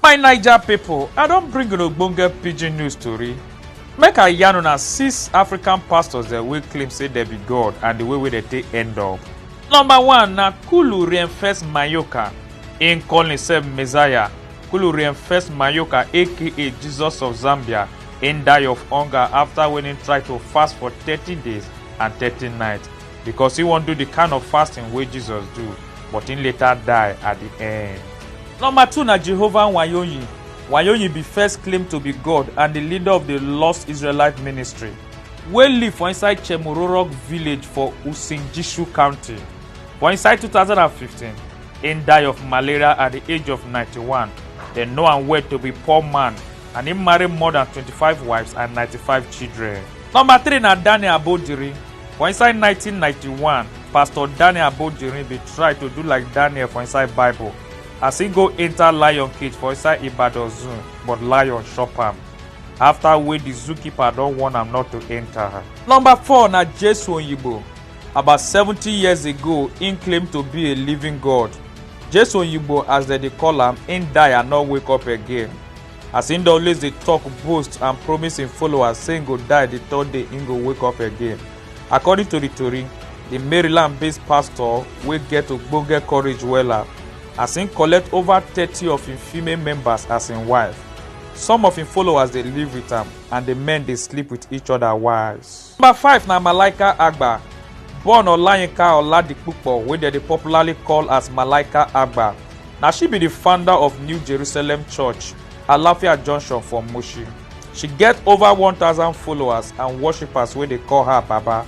my naija pipo i don bring una ogbonge pidgin news tori make i yarn una six african pastors dem wey claim say dem be god and di way wey dem take end up number one na kulu reinfest mayoka im call himself messiah kulu reinfest mayoka aka jesus of zambia im die of hunger afta wen im try to fast for thirty days and thirty nights because he wan do the kind of fasting wey jesus do but he later die at the end. number two na jehovah nwayoyin nwayoyin be first claim to be god and the leader of the lost israelite ministry wey live for inside chemororok village for usingishu county for inside 2015 im die of malaria at the age of 91 dem know am well to be poor man and im marry more than 25 wives and 95 children. Number three na Daniel Abodiri. For inside 1991, Pastor Daniel Abodiri bin try to do like Daniel for inside Bible as he go enter lion cage for inside Ibadan Zoo, but lion chop am after wey the zookeeper don warn am not to enter. Number four na Jesu Oyibo. About 70 years ago, im claim to be a living God. Jesu Oyibo as dem dey call am, im die and no wake up again. as im dey always dey tok boast and promise im followers say im go die di third day im go wake up again according to di tori di maryland based pastor wey get ogbonge courage wella as im collect over thirty of im female members as im wife some of im followers dey live wit am and di men dey sleep wit each oda wives Number five na Malaika Agba, born Olayinka Oladipupo wey dem dey popularly call as Malaika Agba. Na she be the founder of New Jerusalem Church, Alafia Junction for Mushin. She get over 1,000 followers and worshippers wey dey call her Baba.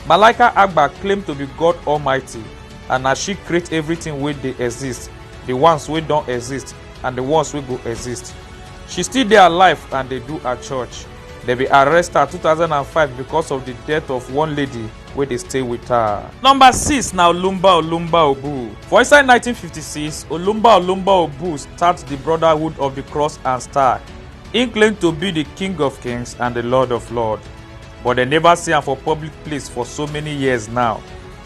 Malaika Agba claim to be God Almighty and na she create everything wey dey exist, the ones wey don exist and the ones wey go exist. She still dey alive and dey do her church. dem bin arrest her 2005 because of di death of one lady wey dey stay wit her. Number six na Olumba Olumba Obu. For inside 1956, Olumba Olumba Obu start di Brotherhood of di Cross and Star. Im claim to be di King of Kings and di Lord of Lords, but dem neva see am for public place for so many years now.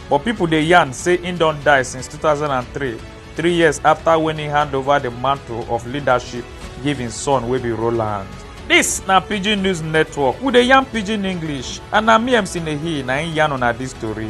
But pipo dey yarn say im don die since 2003. three years afta wen e hand over di mantle of leadership give im son wey be roland dis na pidgin news network we dey yarn pidgin english and na me mc nehi na im yarn una dis tori